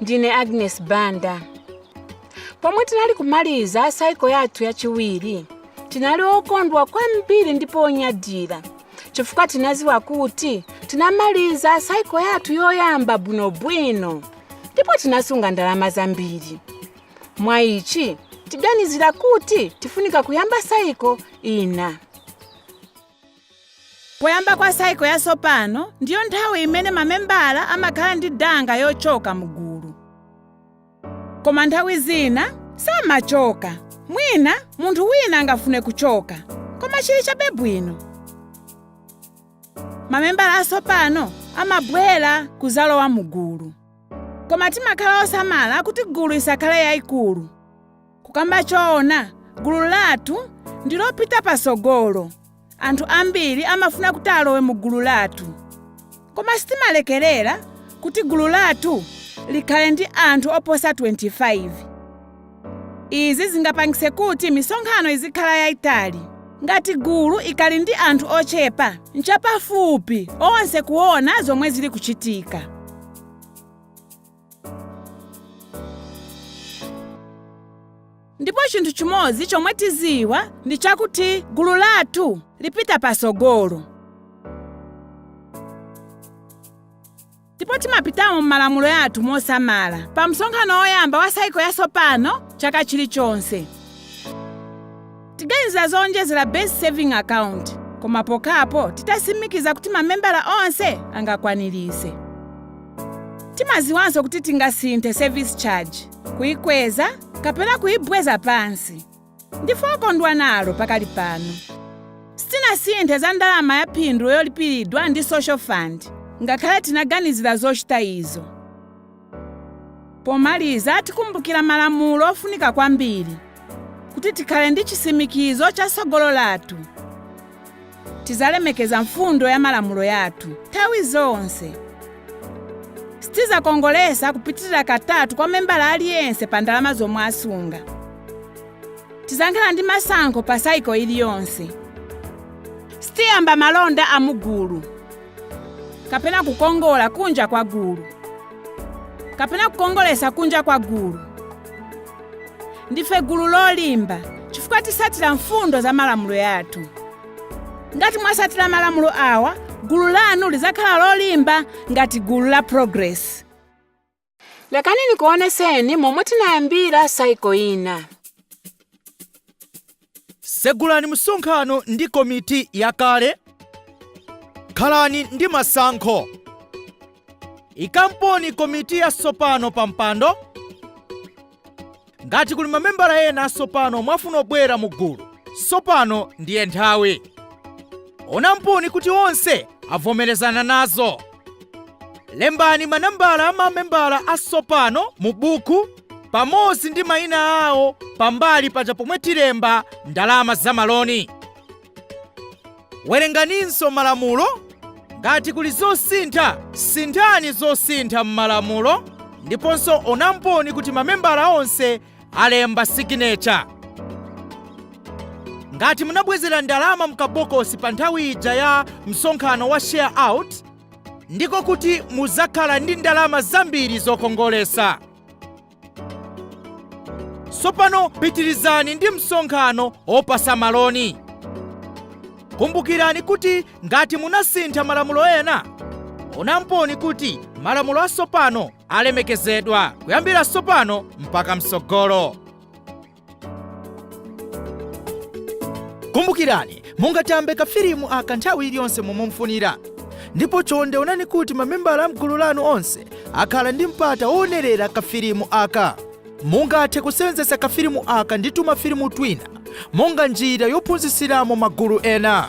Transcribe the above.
ndine agnes banda pomwe tinali kumaliza saiko yathu yachiwiri tinali okondwa kwambiri ndipo onyadira chifukwa tinaziwa kuti tinamaliza saiko yathu yoyamba bwinobwino ndipo tinasunga ndalama zambiri mwa ichi tiganizira kuti tifunika kuyamba saiko ina Poyamba kwa cycle yasopano ndiyo nthawi imene mamembala amakhala ndi danga yochoka mu gulu. Koma nthawi zina samachoka. Mwina munthu wina angafune kuchoka, koma chili chabe bwino. Mamembala asopano amabwera kuzalowa mu gulu. Koma timakhala osamala kuti gulu isakhale yaikulu. Kukamba choona, gulu lathu ndi lopita patsogolo. Anthu ambiri amafuna kuti alowe mu gulu lathu. Koma sitimalekerera kuti gulu lathu likhale ndi anthu oposa 25. Izi zingapangise kuti misonkhano izikhala yaitali. Ngati gulu ikali ndi anthu ochepa, n'chapafupi onse kuona zomwe zili kuchitika. ndipo chinthu chimodzi chomwe tiziwa ndi chakuti gulu lathu lipita pasogolo ndipo timapitamo m'malamulo yathu mosamala pa msonkhano woyamba wa saiko yasopano chaka chilichonse Tiganizira zowonjezera Base Saving Account koma pokhapo titasimikiza kuti mamembala onse angakwanirise. Timaziwanso kuti tingasinthe service charge, kuikweza kapena kuibweza pansi. Ndife okondwa nalo pakali pano. Sitinasinthe za ndalama ya phindu yolipiridwa ndi Social Fund ngakhale tinaganizira zochita izo. Pomaliza tikumbukira malamulo ofunika kwambiri kuti tikhale ndi chisimikizo cha sogolo lathu. Tizalemekeza mfundo ya malamulo yathu nthawi zonse. Sitizakongolesa kupitirira katatu kwa membala aliyense pa ndalama zomwe asunga. Tizankhala ndi masankho pa saiko iliyonse. Sitiyamba malonda a mu gulu. kapena kukongola kunja kwa gulu kapena kukongolesa kunja kwa gulu ndife gulu lolimba chifukwa tisatira mfundo za malamulo yathu ngati mwasatira malamulo awa gulu lanu lizakhala lolimba ngati gulu la progress Lekani nikuoneseni momwe tinayambira saiko ina. Segulani msonkhano ndi komiti yakale. Khalani ndi masankho. Ikamponi komiti yasopano pampando. ngati kuli mamembala ena asopano ofuna kubwera mu gulu sopano ndiye nthawi onamponi kuti onse avomerezana nazo lembani manambala a mamembala asopano mu buku pamodzi ndi mayina awo pambali paja pomwe tilemba ndalama za maloni Werenganinso malamulo. Ngati kuli zosintha, sinthani zosintha m'malamulo ndiponso onamponi kuti mamembala onse alemba signature. Ngati munabwezera ndalama mkabokosi pa nthawi ija ya msonkhano wa share out, ndiko kuti muzakhala ndi ndalama zambiri zokongolesa. sopano pitirizani ndi msonkhano opasa maloni kumbukirani kuti ngati munasintha malamulo ena onamponi kuti malamulo asopano alemekezedwa kuyambira sopano mpaka mtsogolo kumbukirani mungatambe kafilimu aka nthawi iliyonse momwe mufunira ndipo chonde onani kuti mamembala a mgulu lanu onse akhala ndi mpata woonerera kafilimu aka mungathe kusewenzesa kafilimu aka ndi tumafilimu twina monga njira yophunzitsiramo magulu ena